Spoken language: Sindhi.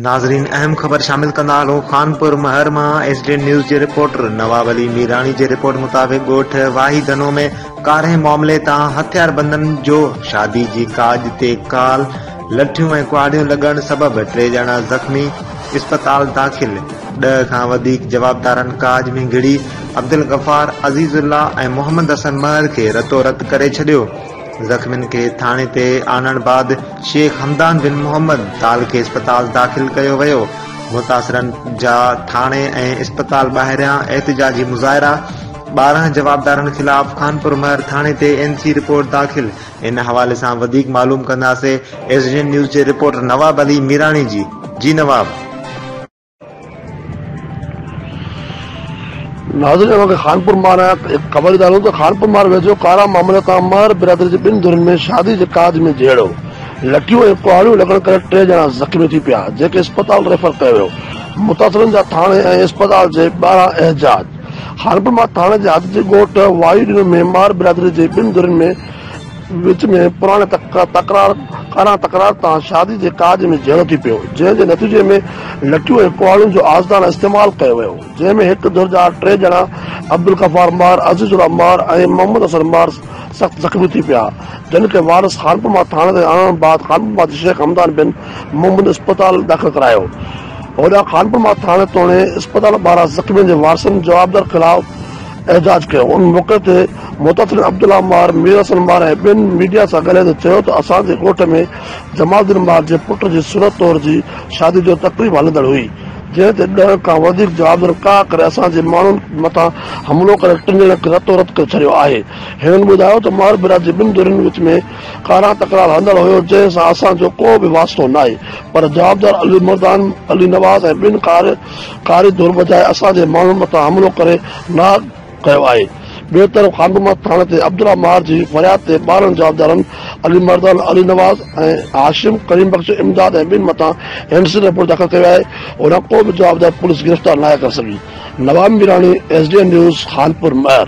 ناظرين اهم خبر شامل ڪندا هلون خانپور مهر مان ايس ڊي اين نيوز جي رپورٽر نواب علي ميراڻي جي رپورٽ مطابق ڳوٺ واهي دنو ۾ ڪارنهن معاملي تان هٿياربندن جو شادي جي ڪاڄ تي ڪال لٺيون ۽ ڪهاڙيون لڳڻ سبب ٽي ڄڻا زخمي اسپتال داخل ڏهه کان وڌيڪ جوابدارن ڪاڄ ۾ گهڙي عبدالغفار، عزيز الله ۽ محمد حسن مهر کي رتو رت ڪري ڇڏيو. زخمين کي ٿاڻي تي آڻڻ بعد شيخ حمدان بن محمد تال کي اسپتال داخل ڪيو ويو. متاثرن جا ٿاڻي ۽ اسپتال ٻاهريان احتجاجي مظاهرا، ٻارهن جوابدارن خلاف خانپور مهر ٿاڻي تي اين سي رپورٽ داخل، ان حوالي سان وڌيڪ معلوم ڪنداسين ايس ڊي اين نيوز جي رپورٽر نواب علي ميراڻي جي، جي نواب. ناظرين اوهان کي خانپور مار آهيان ته هڪ خبر ڏيندارون ته خانپور مار ويجهو ڪارا معاملا تان مار برادري جي ٻن ڌرين ۾ شادي جي ڪاڄ ۾ جهيڙو لٺيون ۽ ڪهاڙيون لڳڻ ڪري ٽي ڄڻا زخمي ٿي پيا جنهن کي اسپتال ريفر ڪيو ويو متاثرن جا ٿاڻي ۽ اسپتال جي ٻاهران احجاج خانپور مار ٿاڻي جي حد جي ڳوٺ واهي ڏنو ۾ مار برادري جي ٻن ڌرين ۾ وچ ۾ پراڻي تڪرار ڪارا تڪرار تان شادي جي ڪاڄ ۾ جهيڙو ٿي پيو، جنهن جي نتيجي ۾ لٺيون ۽ ڪهاڙين جو آزدانه استعمال ڪيو ويو، جنهن ۾ هڪ ڌر جا ٽي ڄڻا عبدالغفار مار، عزيز الله مار ۽ محمد حسن مار سخت زخمي ٿي پيا، جن کي وارث خانپما ٿاڻي تائين آڻڻ بعد خانپما جي شيخ حمدان بن محمد اسپتال داخل ڪرايو، هوڏانهن خانپما ٿاڻي توڻي اسپتال ٻاهران زخمين جي وارثن جوابدار خلاف احتجاج ڪيو، ان موقعي تي محتسن عبدالله مار، مير حسن مار ۽ ٻين ميڊيا سان ڳالهائيندي چيو ته اسان جي ڳوٺ ۾ جمال الدين مار جي پٽ جي سرت طور جي شادي جو تقريب هلندڙ هئي جنهن تي ڏهه کان وڌيڪ جوابدارن ڪاهه ڪري اسان جي ماڻهن مٿان حملو ڪري ٽن ڄڻن کي رتو رت ڪري ڇڏيو آهي. هنن ٻڌايو ته مار برادري جي ٻن ڌرين وچ ۾ ڪارا تڪرار هلندڙ هيو جنهن سان اسان جو ڪو به واسطو ناهي پر جوابدار علي مردان، علي نواز ۽ ٻين ڪار ڪاري ڌر بجاء اسان جي ماڻهن مٿان حملو ڪري ناهه ڪيو آهي. ٻئي طرف خانبما ٿاڻي تي عبدالله ماهر جي فرياد تي ٻارهن جوابدارن علي مردان، علي نواز ۽ هاشم، ڪريم بخش، امداد ۽ ٻين مٿان هينڊسن رپورٽ داخل ڪيو آهي هونئن ڪو به جوابدار پوليس گرفتار ناهي ڪري سگهي. Nawab Mirani, S D N news, Khanpur مهر.